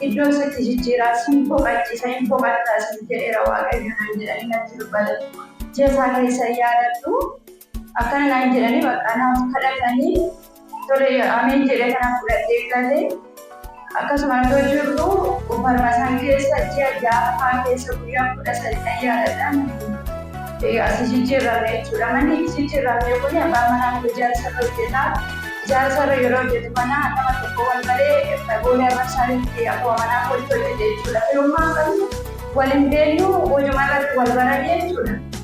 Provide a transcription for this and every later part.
Iddoo isa itti jijjiiraa siin boqachiisa hin boqattaa siin jedheera waaqayyo naan jedhanii natti dubbate. Ji'a isaa keessa yaadadhu akkana naan jedhanii bakka naaf kadhatanii tole ameen jedhee kana fudhadhee galee Akkasuma yoo jirru uffannaa san keessa ji'a ja'affaa keessa guyyaa kudha sadi ayyaadadhaan asi jijjiirramne jechuudha. Manni jijjiirramne kun abbaan manaa koo ijaarsarra hojjeta. Ijaarsarra yeroo hojjetu kana nama tokko wal malee boolee abbaa isaaniitti akkuma manaa kootti hojjete jechuudha. Firummaa qabnu wal hin beeknu hojumarratti wal barane jechuudha.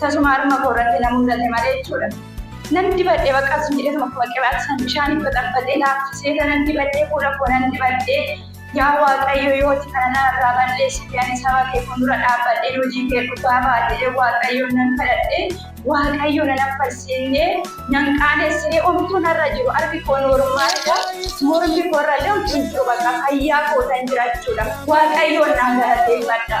Tasuma harma koo irratti na mul'ate malee jechuudha. Nan dibadhe bakka sun jedhe tokko bakka qiraati san bishaan itti baxabbaxee laaffisee tanan dibadhe fuula koo nan dibadhe yaa waaqayyo yooti kana na irraa balleessite ani saba kee fuuldura dhaabbadhe hojii kee dhugaa baadhee waaqayyo nan kadhadhe waaqayyo nan affarsiinne nan qaanessine omtuu narra jiru arbi koo noormaadha mormi koo irra illee hojii jiru bakka fayyaa koo tan jira jechuudha waaqayyoon naan galateeffadha.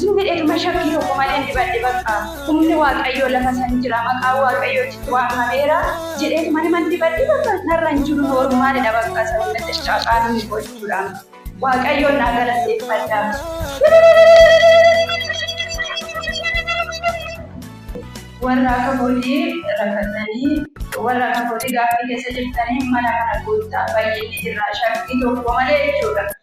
Zuuri irma shakkii tokko maleen dibadhe baqqa humni waaqayyoo lafa san jira maqaan waaqayyoo achitti waamameera jedheetuma niman dibadhe baqqa narra hin jiru noormaalidha baqqa sababni xiqqaaqaa hin gochuudha waaqayyoon naa galateeffadha. warra akka kootii rakkattanii warra akka kootii gaaffii keessa jirtanii mana kana guuttaa baay'inni jirra shakkii tokko malee jechuudha.